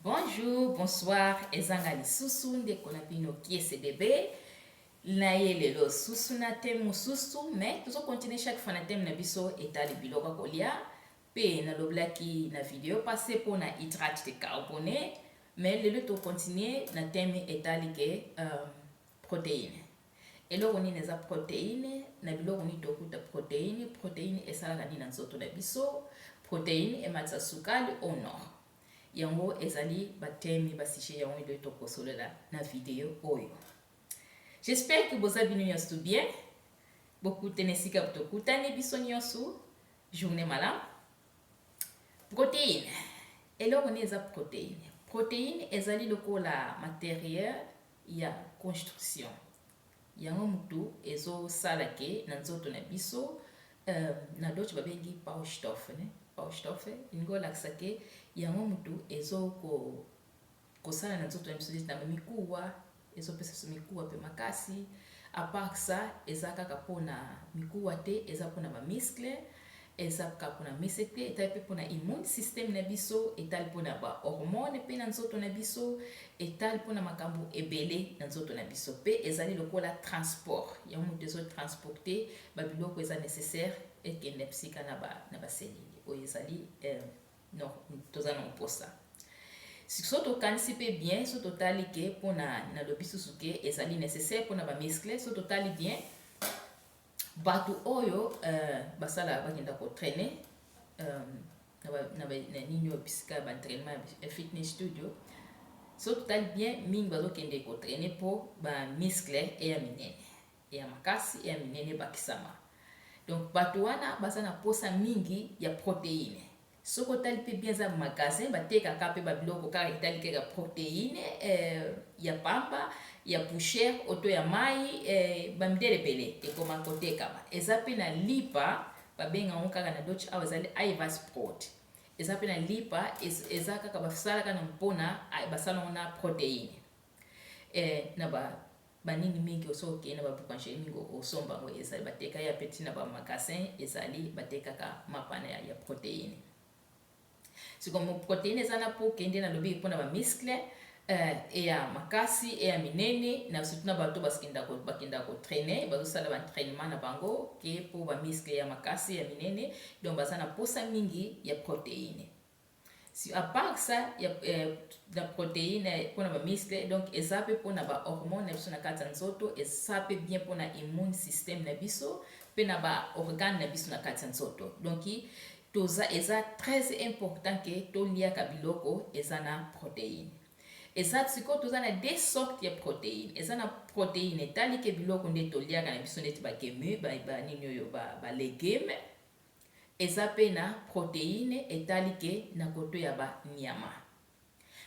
Bonjour, bonsoir, ezanga lisusu ndeko na bino kiese bebe na ye lelo susu na teme mosusu mais tozo continue chaque fois na teme na biso etali biloko ya kolia mpe naloblaki na video passe mpo na hydrate de carbone mais lelo tocontinue na teme etali ke um, Proteine. Eloko nini eza proteine? Na biloko nini tokuta proteine? Proteine esalaka nini na nzoto na biso? Proteine ematisa sukali o no? Yango ezali ba thèmes, ba sujets yango nde tokosolola na video oyo. J'espère que boza bino nyonso bien. Bokute na esika tokutani biso nyonso. Journée malamu. Proteine. Eloko nini eza proteine? Proteine ezali lokola materiel ya construction yango mutu ezo sala ke na nzoto na biso euh na dutch ba bengi baustoffen hein baustoffen elingi olakisa ke yango mutu ezo ko kosala na nzoto na biso neti na ba mikuwa ezo pesa biso mikuwa pe makasi à part ça eza kaka pona mikuwa te eza pona ba muscles Eza kka pona mese te, etali pe pona immune system na biso, etali pona ba hormones pe na nzoto na biso, etali pona makambo ebele na nzoto na biso. Pe ezali lokola transport ya mutu ezo transporter ba biloko eza necessaire ekende psika na ba na ba cellules oyo ezali toza na mposa. Soki tokanisi pe bien, soki totali ke pona nalobi susu ke ezali necessaire pona ba muscles, soki totali bien Batu oyo euh, basala bakenda ko trainer euh, na nini oyo bisika ya baentrainement ya fitness studio so totali bien mingi bazokende kotraine mpo bamiskle eya minene eya makasi eya minene ebakisama donc bato wana baza na mposa mingi ya proteine Soki otali pe bien eza magasin batekaka pe ba biloko kaka etali kaka proteine eh, ya pamba, ya poussière o to ya mayi eh, ba midele ebele ekoma kotekama. Eza pe na lipa babenga yango kaka na Dutch awa ezali Iversproot. Eza pe na lipa ez- eza kaka basalaka na mpona basala yango na proteine eh, na ba Ba nini mingi oso oke na ba boucangerie mingi osomba ngo ezali ba teka ya petit na ba magasin ezali ba tekaka mapa na ya proteine sikoyo proteine eza na po kende na lobi pona ba muscle euh, eya makasi eya minene na surtout na bato bakenda bakenda ko trainer bazosala ba entraînement na bango ke po ba muscle ya makasi ya minene donc baza na posa mingi ya proteine Si à part ça ya na proteine pona ba muscle donc eza pe pona ba hormones na biso na kati ya nzoto eza pe bien pona immune système na biso pe na ba organes na biso na kati ya nzoto donc toza eza très important que to liaka biloko eza na proteine eza sikoyo toza na de sorte ya proteine eza na proteine etali ke biloko nde toliaka na biso neti bakemu banini oyo balegume Eza pe na proteine etali ke na koto ya ba nyama.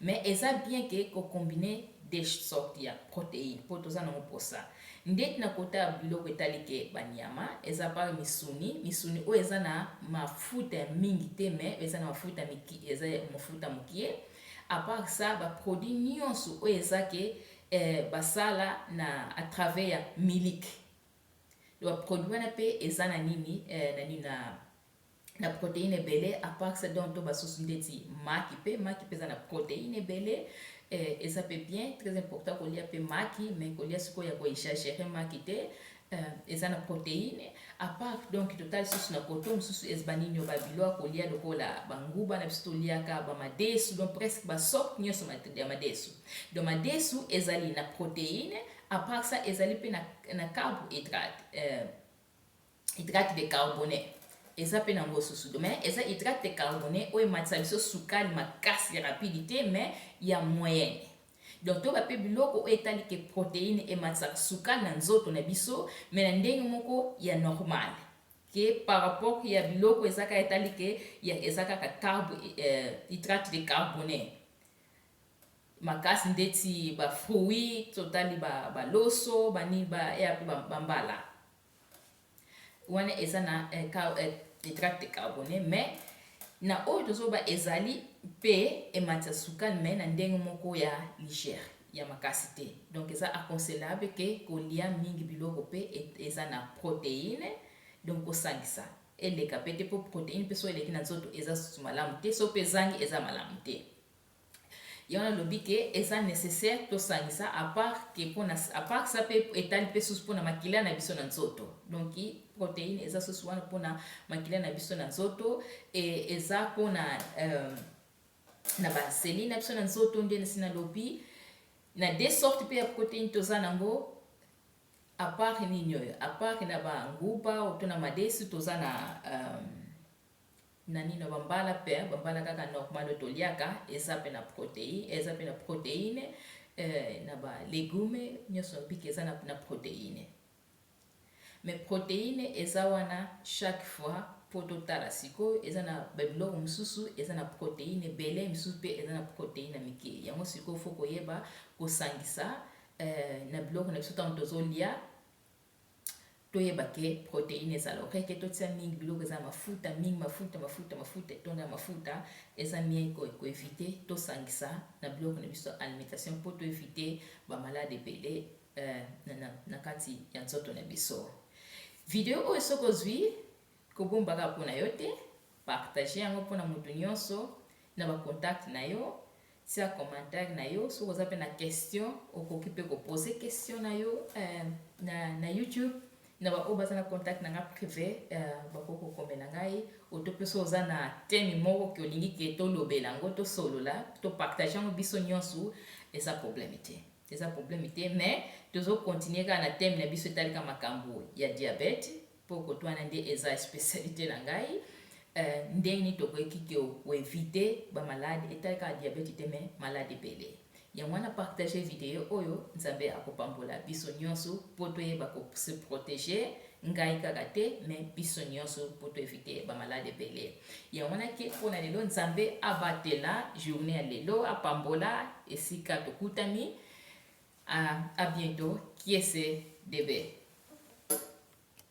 Mais eza bien ke ko combiner des sortes ya proteine po toza nango posa. Ndeti na kota ya biloko etali ke ba nyama, eza par misuni, misuni oyo eza na mafuta ya mingi te mais eza na mafuta miki, eza ya mafuta mukie. A part ça, ba produits nionso oyo eza ke eh, ba sala na à travers ya miliki. Donc ba produit wana pe eza na nini eh, na nini na na proteine ebele apart ça donc to basusu ndeti maki pe maki pe eza na proteine ebele eh, eza pe bien très important kolia pe maki mais kolia sikoyo ya koexagere maki te eh, eza na proteine apart donc total susu na koto mosusu ez banini oyo babilo ya kolia lokola banguba na biso toliaka bamadesu donc presque basorte nyonso ya madesu donc madesu ezali na proteine A part ça, ezali pe na, na carbohydrate, euh, hydrate de carbone. Eza pe na ngo susu. Mais eza hydrate de carbone oyo ematisa biso sukali makasi rapide te, mais ya moyenne. Donc toyeba pe biloko oyo etali ke proteine ematisaka sukali na nzoto na biso, mais na ndenge moko ya normal. Ke par rapport ya biloko eza kaka etali ke ya, eza kaka carbo, euh, hydrate de carbone. makasi ndeti ba fruits totali ba ba loso ba nini ba ea pe ba mbala wana eza na hydrate de carbone mais na oyo tozoloba ezali pe ematisa sukali mais na ndenge moko ya ligère ya makasi te donc eza aconsellable ke kolia mingi biloko pe eza na proteine donc kosangisa eleka pe te po proteine pe so eleki na nzoto eza susu malamu te so pe ezangi eza malamu te Yango nalobi que eza necessaire tosangisa à part que pona à part ça pe etali pe susu pona makila na biso na nzoto. Donc proteine eza susu wana pona makila na biso na nzoto et eza pona euh, na ba cellules na biso na nzoto nde nasi nalobi na deux sortes pe ya proteine toza nango à part nini oyo à part na ba nguba to na madesu toza na euh, Nanino ba mbala pe ba mbala kaka normal to liaka eza pe na protei eza pe na proteine eh na ba legume nioso mpika eza na na proteine mais proteine eza wana chaque fois po to tala sikoyo eza na ba biloko mosusu eza na proteine ebele misusu pe eza na proteine na mike yango sikoyo fo koyeba kosangisa eh na biloko na biso tango tozo lia Toyeba ke proteine ezala okay ke totia mingi biloko eza na mafuta mingi mafuta mafuta mafuta etondi na mafuta eza mien ko ko eviter tosangisa na biloko na biso alimentation po to eviter ba malade ebele eh, na, na, na kati ya nzoto na biso. Video oyo soki ozwi kobomba kaka mpo na yo te, partage yango mpo na moto nyonso na ba contact na yo Tia commentaire na yo soki oza pe na question okoki pe ko poser question na yo euh, na, na YouTube na ba oyo baza na contact na nga privé euh, bakoki kokomela ngai oto pe soki oza na teme moko ke olingi ke tolobela yango tosolola topartage yango biso nyonso eza problème te eza problème te mais tozo continuer kaka na teme na biso etali ka makambo ya diabete Po kote wana nde eza especialite na ngai. Eh, ndenge nini tokoki ko eviter ba malade etali kaka diabete te mais malade ebele. Yango wana partager video oyo, Nzambe akopambola biso nyonso po toyeba ko se proteger ngai kaka te mais biso nyonso po to eviter ba malade ebele. Yango wana ke pona lelo Nzambe abatela journée ya lelo, apambola esika tokutani. A, a bientôt, kiese debe.